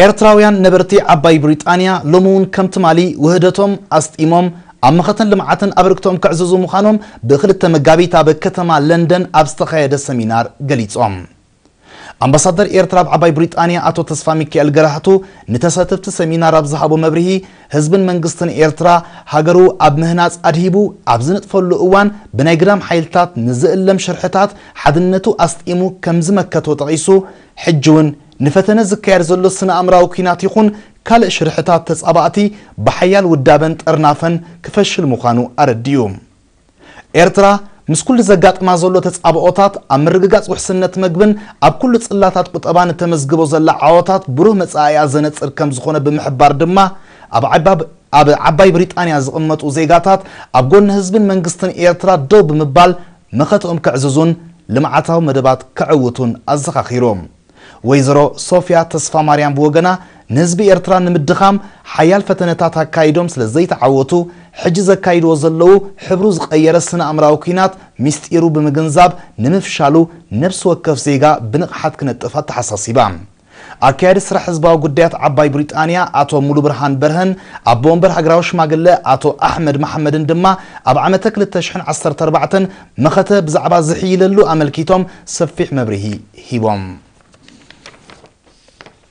ኤርትራውያን ነበርቲ ዓባይ ብሪጣንያ ሎሚ እውን ከም ትማሊ ውህደቶም ኣስጢሞም ኣብ መኸተን ልምዓትን ኣበርክቶኦም ከዕዝዙ ምዃኖም ብክልተ መጋቢት ኣብ ከተማ ለንደን ኣብ ዝተኻየደ ሰሚናር ገሊጾም። ኣምባሳደር ኤርትራ ኣብ ዓባይ ብሪጣንያ ኣቶ ተስፋሚካኤል ገራህቱ ንተሳተፍቲ ሰሚናር ኣብ ዝሃቦ መብርሂ፣ ህዝብን መንግስትን ኤርትራ ሃገሩ ኣብ ምህናጽ ኣድሂቡ ኣብ ዝንጥፈሉ እዋን ብናይ ግዳም ሓይልታት ንዝእለም ሽርሕታት ሓድነቱ ኣስጢሙ ከም ዝመከቶ ጠቒሱ፣ ሕጂ'ውን ንፈተነ ዝካየድ ዘሎ ስነ-ኣእምራዊ ኲናት ይኹን ካልእ ሽርሕታት ተጻባእቲ ብሓያል ውዳበን ጥርናፈን ክፈሽል ምዃኑ ኣረዲኡ። ኤርትራ ምስ ኩሉ ዘጋጥማ ዘሎ ተጻብኦታት ኣብ ምርግጋጽ ውሕስነት መግብን ኣብ ኩሉ ጽላታት ቁጠባን እተመዝግቦ ዘላ ዓወታት ብሩህ መጻኢኣ ዘነጽር ከም ዝኾነ ብምሕባር ድማ ኣብ ዓባብ ኣብ ዓባይ ብሪጣንያ ዝቕመጡ ዜጋታት ኣብ ጎኒ ህዝብን መንግስትን ኤርትራ ደው ብምባል መኸተኦም ከዕዝዙን ልምዓታዊ መደባት ከዕውቱን ኣዘኻኺሮም። ወይዘሮ ሶፍያ ተስፋማርያም ብወገና፣ ንህዝቢ ኤርትራ ንምድኻም ሓያል ፈተነታት ኣካይዶም ስለ ዘይተዓወቱ፣ ሕጂ ዘካይድዎ ዘለዉ ሕብሩ ዝቐየረ ስነኣእምራዊ ኲናት ምስጢሩ ብምግንዛብ ንምፍሻሉ ነብሲ ወከፍ ዜጋ ብንቕሓት ክነጥፍ ኣተሓሳሲባ። ኣካያዲ ስራሕ ህዝባዊ ጉዳያት ዓባይ ብሪጣንያ ኣቶ ሙሉብርሃን በርሀን ኣቦ ወንበር ሃገራዊ ሽማግለ ኣቶ ኣሕመድ መሓመድን ድማ ኣብ ዓመተ ክልተ ሽሕን ዓሰርተ ኣርባዕተን መኸተ ብዛዕባ ዝሕይለሉ ኣመልኪቶም ሰፊሕ መብርሂ ሂቦም።